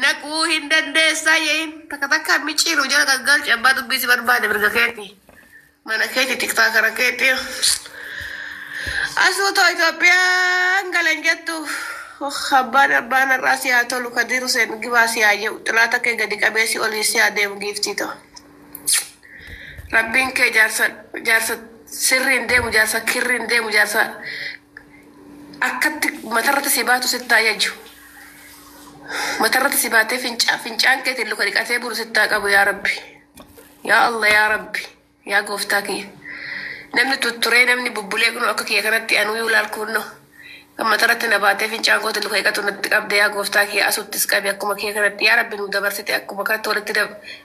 Naquu hin dandeessaa yeeyin takka takka miciiru jala gaggalchi abbaa dubbii si barbaade mirga keeti mana keeti tiktaa kara keeti asuu too Itoophiyaan galan jettu Oh, abbaan abbaan har'aa si haa tolu kadiir Huseen gibaa si haa jedhu xilaata kee gadi qabee si olii si haa deemu giiftii too rabbiin kee jaarsa jaarsa sirriin deemu jaarsa kirriin deemu jaarsa Akkatti matarratti si baatu sitti haa yaju. Matarratti si baatee fincaan fincaan keetiin luka dhiqatee bulu sitti haa qabu yaa rabbi. Yaa Allah yaa rabbi yaa gooftaa kiyya. Namni tutturee namni bubbulee kunoo akka kiyya kanatti anuu yuu laal kuunnoo. Kan matarratti na baatee fincaan kootiin luka dhiqatu natti qabde yaa gooftaa kiyya asuttis qabi akkuma kiyya kanatti yaa rabbi nu dabarsite akkuma kanatti walitti dab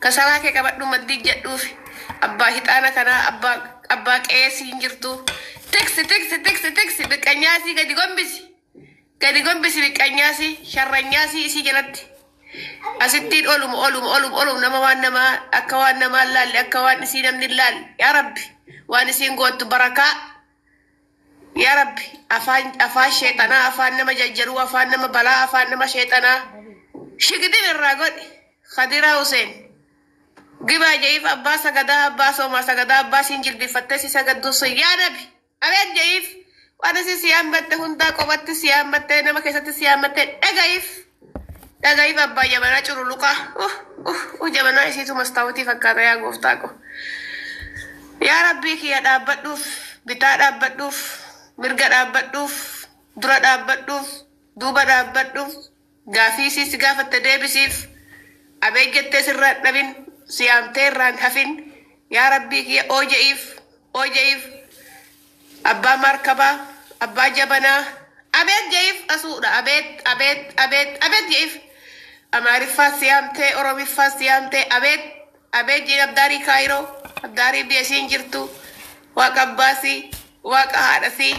Kasaraa kee qabadhuu maddiin jedhuufi abbaa hixaana kanaa abbaa abbaa qe'ee siin jirtuu tiksi tiksi tiksi tiksi biqqanyaasii gadi gombisi gadi gombisi biqqanyaasii sharranyaasii isii jalatti asittiin olum olum olum olum nama waan namaa akka waan namaa laalle akka waan isii namni laalle yaa rabbi waan isiin goottu barakaa Yaa Rabbi afaan afaan sheexanaa afaan nama jajjaruu afaan nama balaa afaan nama sheexanaa shigidin irraa godhi Kadiraa Huseen gibaa ja'iif abbaa sagadaa abbaa soomaa sagadaa abbaa siin jilbifattee si sagadduu sun yaa nabi abeet ja'iif waan isin si yaammatte hundaa qobatti si yaammatte nama keessatti si yaammatte dhaga'iif Dhagahi babbaa jabanaa cululuqaa uh uh uh jabanaa isiitu mastaawutii fakkaata yaa gooftaa ko yaa rabbii kiyya dhaabbadhuuf bitaa dhaabbadhuuf mirga dhaabbadhuuf dura dhaabbadhuuf duuba dhaabbadhuuf gaafii isii si gaafatte deebisiif abeet jettee sirraan dhabin si yaamtee irraan hafin yaa rabbii kiyya ooja'iif ooja'iif Abbaa maarkabaa Abbaa jabanaa Abeet je'iif Asuudha Abeet Abeet Abeet Abeet je'iif Amaariffaas si yaamtee Oromiffaas si yaamtee Abeet Abeet je'iin Abdaarii Kaayiroo Abdaarii biyya isiin jirtu Waaqa abbaa si Waaqa haadha si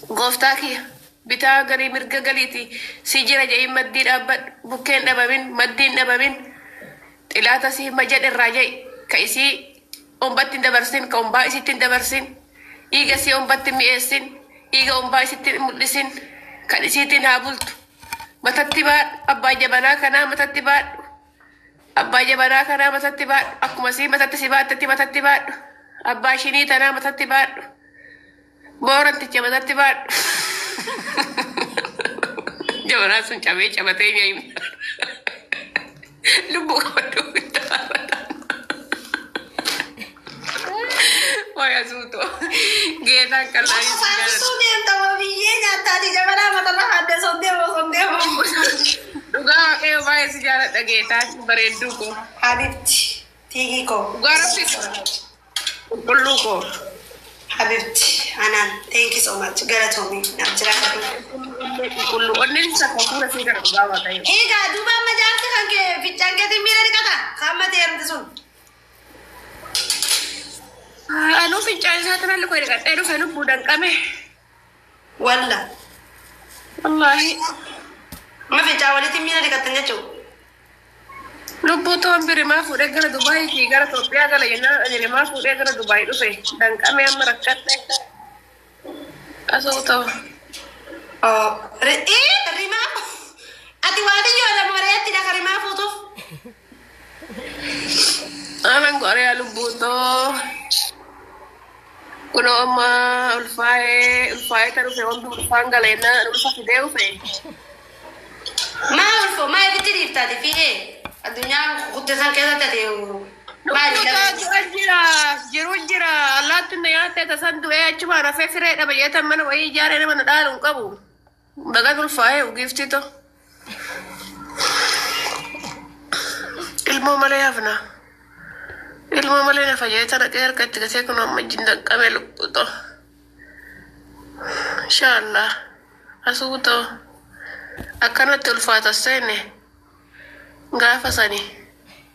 Gooftaa kiyya Bitaa garii mirga galiiti Si jira je'iin maddii dhaabbadhu Bukkeen dhabamin Maddiin dhabamin Xilaata si hima jedhe irraa je'i Ka isii ombatti hin dabarsin, ka ombaa isitti hin dabarsin, dhiiga isii ombatti hin mi'eessin, dhiiga ombaa isitti hin mul'isin, kan isiitiin haa bultu. Matatti baadhu, abbaa jabanaa kanaa matatti baadhu. Abbaa jabanaa kanaa matatti baadhu, akkuma isii matatti si baattetti matatti baadhu. Abbaa shinii tanaa matatti baadhu. Booranticha matatti baadhu. Jabanaa sun cabee cabatee nyaayima. Lubbuu qabadhu bittaa. Waayaa suutoo. Geetaan kan Nama laayee sun jaalatu. faasisuu deemta moo biyyee nyaattaati jabanaa matarra haadda sobdee moo sobdee moo. Dhugaa waaqayyo baay'ee si jaaladha geetaan bareedduu koo. Habibti tiigii koo. Dhugaa rabbi. Qulqulluu koo habibti anaan thank so much galatoomi naaf jiraadhu. Qulqulluu onneen isa hafuura si gara dhugaa waaqayyo. Egaa duuba amma jaarti kan kee ficcaan keetiin miira dhiqata kan amma ta'e erumti sun. Anuu fincaan isaa tanalli koo dhiqadhee dhufe lubbuu danqame. Wallah. Wallaahi. Ma fincaa walitti miila dhiqattan jechuun. Lubbuu toon birimaa fuudhee gara Dubaayii fi gara Itoophiyaa gala jennaan ani rimaa fuudhee gara Dubaayii dhufe danqamee amma rakkadhe asoo ta'u. Oh, ri- ee, rimaa. Ati waaliyyoo lama reettidha ka rimaa fuutuuf. Amen Korea lubbuu too. Kunoo amma ulfaa'ee ulfaa'ee kan dhufe wanti ulfaan galeenna ulfa fidee dhufe. Maa ulfo maa ibitti dhiiftaati fi ee addunyaa guddee san keessa taate maali Lubbuu too du'a jira jiru jira allaattiin na nyaattee tasan du'ee achumaan hafee siree dhaba jeetan mana wayii ijaaree nama na dhaalu hin qabu. Baga ulfaa'ee ugiiftii too. Ilmoo malee hafna. Ilmoo malee na fayyadata dhaqee harka itti gatee kun amma ijji hin danqamee lubbuu too. Inshaallah. Asuu too. Akkanatti ulfaata seenne gaafa sanii.